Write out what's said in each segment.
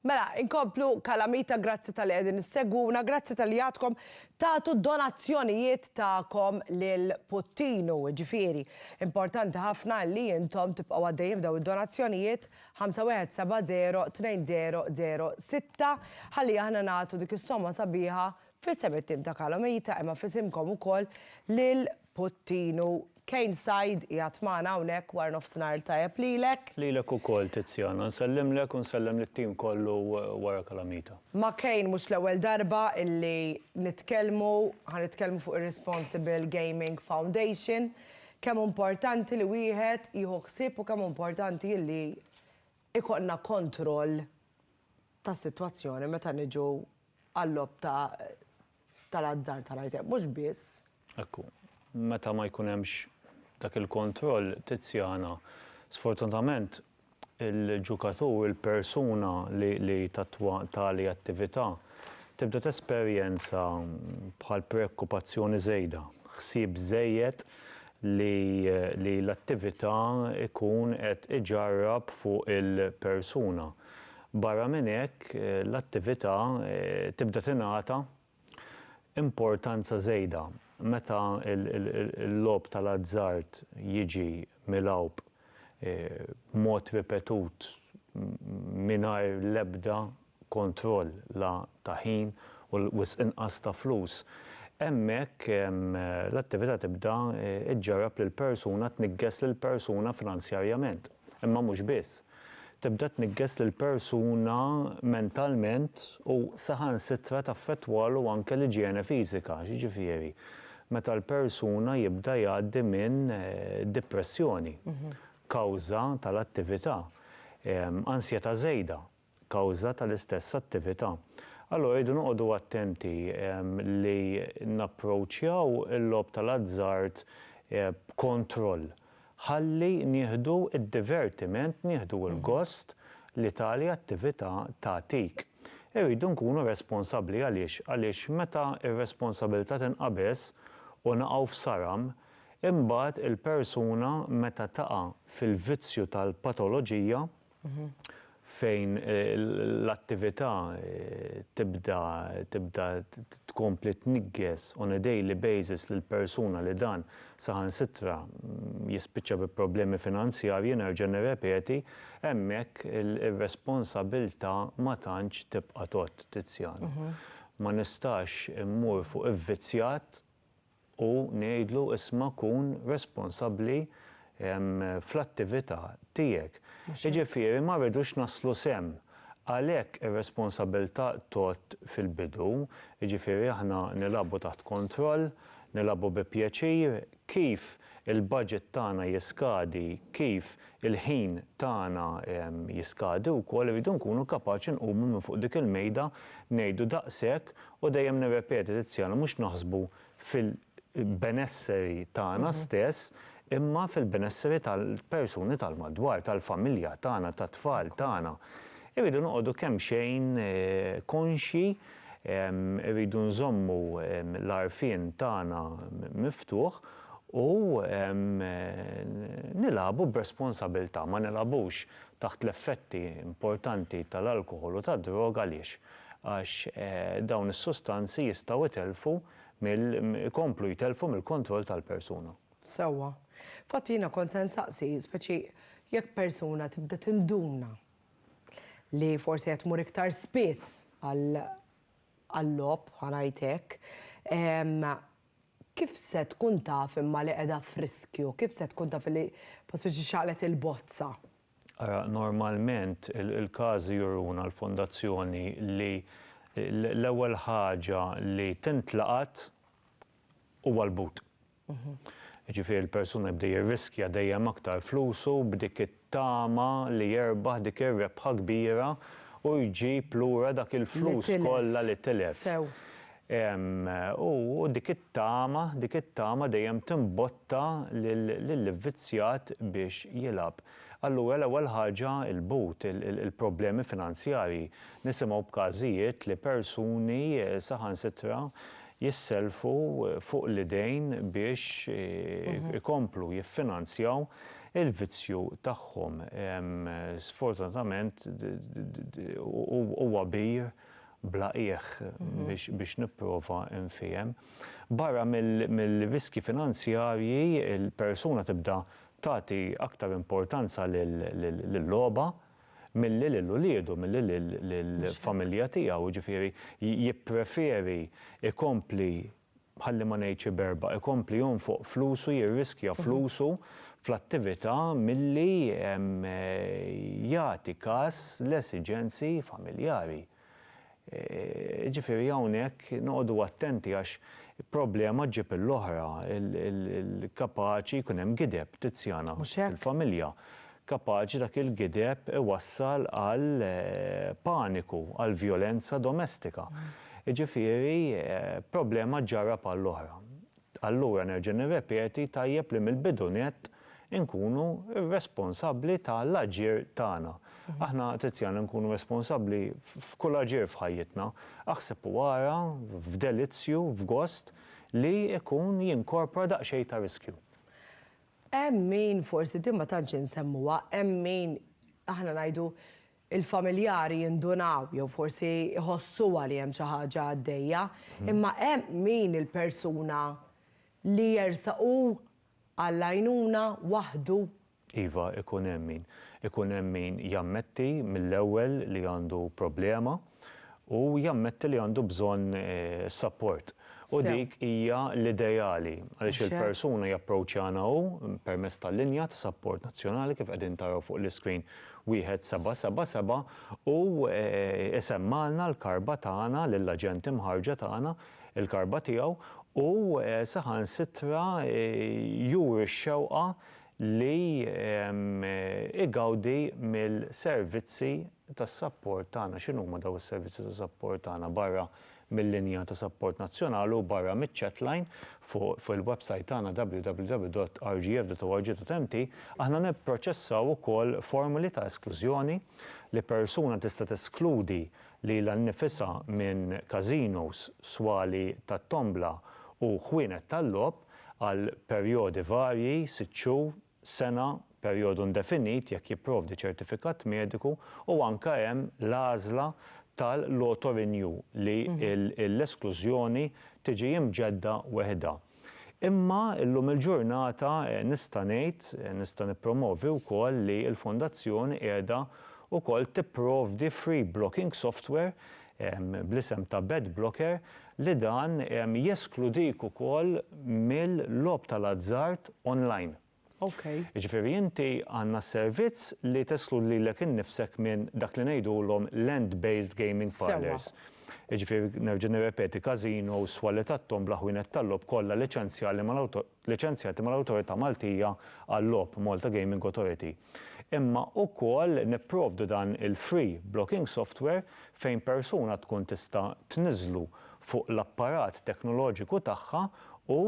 Mela, inkomplu kalamita grazzi tal-li qegħdin issegwuna, grazzi tal-li għadkom tagħtu donazzjonijiet tagħkom lil Puttinu, ġifieri. Importanti ħafna li intom tibqgħu għaddejjin b'daw id-donazzjonijiet 51702006 ħalli aħna nagħtu dik is-somma sabiħa f'isem it-tim ta' Kalamita imma f'isimkom ukoll lil Pottinu, Kane Said qiegħed magħna hawnhekk wara nofsinhar il-tajjeb lilek. Lilek ukoll Tiziana, nsellimlek u nsellem lit-tim kollu wara Calamita. Ma' Kane mhux l-ewwel darba illi nitkellmu, ħa nitkellmu fuq ir-Responsible Gaming Foundation, kemm hu importanti li wieħed jieħu ħsieb u kemm hu importanti illi jkollna kontroll tas-sitwazzjoni meta niġu għal-logħob ta' tal-azzard ta' l-item, mhux biss. Hekk hu. Meta ma jkun hemmx dak il-kontroll, Tiziana, sfortunatament il-ġukatur, il-persuna li tattwa tali attività tibda tesperjenza bħal preokkupazzjoni żejda, ħsieb żejjed li l-attività jkun qed iġarrab fuq il-persuna. Barra minn hekk, l-attività tibda tingħata importanza żejda meta l-logħob tal-azzard jiġi milgħub b'mod ripetut mingħajr l-ebda kontroll la ta' ħin u wisq inqas ta' flus. Hemmhekk l-attività tibda ġġarrab lil persuna tniggeż lil persuna finanzjarjament, imma mhux biss. tibda tniggeż lill-persuna mentalment u saħansitra taffettwalu anke l-iġjene fiżika, jiġifieri meta l-persuna jibda jgħaddi minn dipressjoni kawża tal-attività, ansjetà żejda kawża tal-istess attività. Allura rridu noqogħdu attenti li napproċċjaw il-logħob tal-azzard b'kontroll. Ħalli nieħdu d-divertiment, nieħdu l-gost li tali attività tagħtik. Irridu nkunu responsabbli għaliex? Għaliex meta r-responsabilità tinqabeż u naqgħu f'saram, imbagħad il-persuna meta taqa' fil-vizzju tal-patoloġija, fejn l-attività tibda tibda tkompli tniggess on a daily basis lil persuna li dan saħansitra jispiċċa bi problemi finanzjarji nerġa' nirrepeti hemmhekk ir-responsabilità ma tantx tibqa' tgħodd Tiziano. Ma nistax immur fuq ivvizzjat u ngħidlu isma' kun responsabbli fl-attività tiegħek. Jiġifieri ma rridux naslu s'hemm. Għalhekk ir-responsabilità tgħodd fil-bidu, jiġifieri aħna nilagħbu taħt kontroll, nilagħbu bi pjaċir, kif il-budget tagħna jiskadi, kif il-ħin tagħna jiskadi wkoll irridu nkunu kapaċi nqumu minn fuq dik il-mejda ngħidu daqshekk u dejjem nirrepeti Tiziano mhux naħsbu fil-benesseri tagħna stess imma fil-benesseri tal-persuni tal-madwar, tal-familja tagħna, tat-tfal tagħna. Irridu noqogħdu kemxejn konxji, irridu nżommu l-għarfien tagħna miftuħ, u nilagħbu b'responsabiltà, ma nilagħbux taħt l-effetti importanti tal-alkoħol u tad-droga għaliex? Għax dawn is-sustanzi jistgħu jtellfu mill ikomplu jtellfu mill-kontroll tal-persuna. Sewwa. Fatt jiena kont se nsaqsi, speċi jekk persuna tibda tinduna li forsi qed tmur iktar spiss għal għal-logħob, ħa ngħid hekk, Kif se tkun taf imma li qiegħda f'riskju? Kif se tkun taf li bħal spiċi xaqlet il-bozza? Ara, normalment il-każi juruna l-Fondazzjoni li l-ewwel ħaġa li tintlaqat huwa l-but. Jiġifieri l-persuna jibda jirriskja dejjem aktar flusu b'dik tama li jerbaħ dik ir-rebħa kbira u jġib lura dak il-flus kollha li tilef. U dik it-tama, dik it-tama dejjem timbotta lill-ivvizzjat biex jilgħab. Allura l-ewwel ħaġa l-but, il-problemi finanzjarji. Nisimgħu b'każijiet li persuni saħansitra jissellfu fuq l-idejn biex ikomplu jiffinanzjaw Il-vizzju tagħhom sfortunatament huwa bir bla qiegħ biex nipprova nfiehem. Barra mill-riskji finanzjarji, il-persuna tibda tagħti aktar importanza lil-logħba milli lil uliedu, milli lill-familja tiegħu, jiġifieri jippreferi jkompli ħalli ma ngħidx iberba', ikompli jonfoq flusu, jirriskja flusu fl-attività milli jagħti kas l-esiġenzi familjari. Jiġifieri hawnhekk noqogħdu attenti għax problema ġġib il-oħra, kapaċi jkun hemm gideb, Tiziana, fil-familja. Kapaċi dak il-gideb iwassal għal paniku, għal vjolenza domestika. Jiġifieri problema ġġarrab għall-oħra. Allura nerġa' nirrepeti, tajjeb li mill-bidu nett inkunu responsabbli ta' l-aġir tagħna. Aħna, Tiziana, nkunu responsabbli f'kull aġir f'ħajjitna. Aħseb u ara, f'delizzju, f'gost, li jkun jinkorpora daqsxejn ta' riskju. Hemm min, forsi din ma tantx insemmuha, hemm min aħna ngħidu il-familjari jindunaw jew forsi jħossuha li hemm xi ħaġa għaddejja, imma hemm min il-persuna li jersaq hu għall-għajnuna waħdu? Iva, ikun hemm min. Ikun hemm min jammetti mill-ewwel li għandu problema. u jammetti li għandu bżonn sapport. U dik hija l-ideali għaliex il-persuna japproċċjana hu permezz tal-linja ta' sapport nazzjonali kif qegħdin taraw fuq l-iscreen 1777 u jsemmagħlna l-karba tagħna lill-aġent imħarrġa tagħna, il-karba tiegħu u saħansitra juri x-xewqa li igawdi mill-servizzi ta' sapport tagħna, x'inhuma dawn is-servizzi ta' sapport tagħna barra mil-linja ta' sapport nazzjonali u barra miċ-chatline fuq il-websajt tagħna www.rgf.org.mt, aħna nipproċessaw ukoll formoli ta' esklużjoni li persuna tista' teskludi lilha nnifisha minn każinos, swali tat-tombla u ħwienet tal-logħob għal perjodi varji, sitt xhur, sena, perjodu indefinit jekk jipprovdi ċertifikat mediku u anke hemm l-għażla tal-auto-renew li l-esklużjoni tiġi imġedda weħidha. Imma llum il-ġurnata nista' ngħid, nista' nippromovi wkoll li l-Fondazzjoni qiegħda wkoll tipprovdi free blocking software bl-isem ta' Bet Blocker li dan jeskludik ukoll mill-logħob tal-azzard online. Jiġifieri inti għandna s-servizz li teskludi lilek innifsek minn dak li ngħidulhom land-based gaming parlours. Jiġifieri nerġa' nirrepeti, każinos, swali tat-tombla, ħwienet tal-logħob kollha liċenzjali mal-awtoritajiet. liċenzjati mal-Awtorità Maltija għal-Logħob, Malta Gaming Authority, imma wkoll nipprovdu dan il-free blocking software fejn persuna tkun tista' tniżżlu fuq l-apparat teknoloġiku tagħha u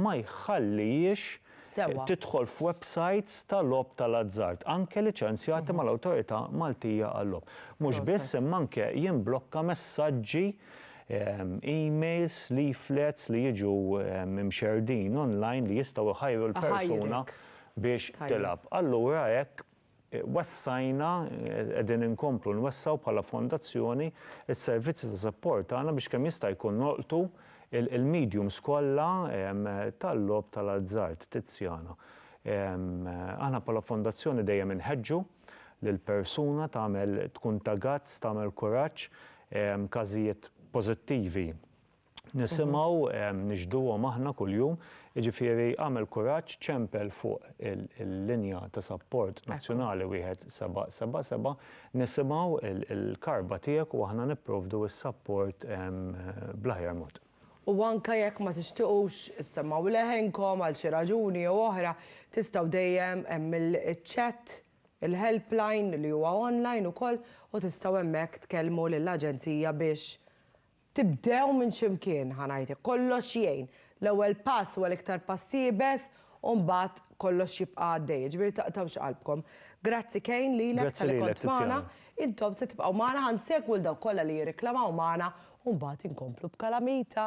ma jħallihiex tidħol f'websajts ta' logħob tal-azzard, anke liċenzjati mal-Awtorità Maltija għal-Logħob. Mhux biss, imma anke jimblokka messaġġi emails, leaflets li jiġu mxerrdin online li jistgħu jħajru l-persuna biex tilgħab. Allura hekk wessajna, qegħdin inkomplu nwessgħu bħala fondazzjoni s-servizzi ta' sapport tagħna biex kemm jista' jkun nolqtu l-mediums kollha tal-logħob tal-azzard. Tiziana, Aħna bħala fondazzjoni dejjem inħeġġu, lil persuna tagħmel tkun ta' guts tagħmel kuraġġ każijiet pożittivi nisimgħu nixhduhom aħna kuljum jiġifieri għamel kuraġġ ċempel fuq il-linja ta' sapport nazzjonali wieħed seba' seba' seba' nisimgħu l-karba tiegħek u aħna nipprovdu s-sapport bl-aħjar mod. U anke jekk ma tixtiequx issemmgħu leħinkom għal xi raġuni jew oħra, tistgħu dejjem hemm il-chat, il-helpline li huwa online ukoll u tistgħu hemmhekk tkellmu lill-Aġenzija biex tibdew minn xi mkien, ħa ngħid hekk. Kollox jgħin. L-ewwel pass huwa l-iktar pass iebes u mbagħad kollox jibqa' għaddej. Jiġifieri taqtgħux qalbkom. Grazzi Kane lilek talli kont magħna. Intom se tibqgħu magħna, ħa nsegwu 'l dawk kollha li jirriklamaw magħna u mbagħad inkomplu b'kalamita.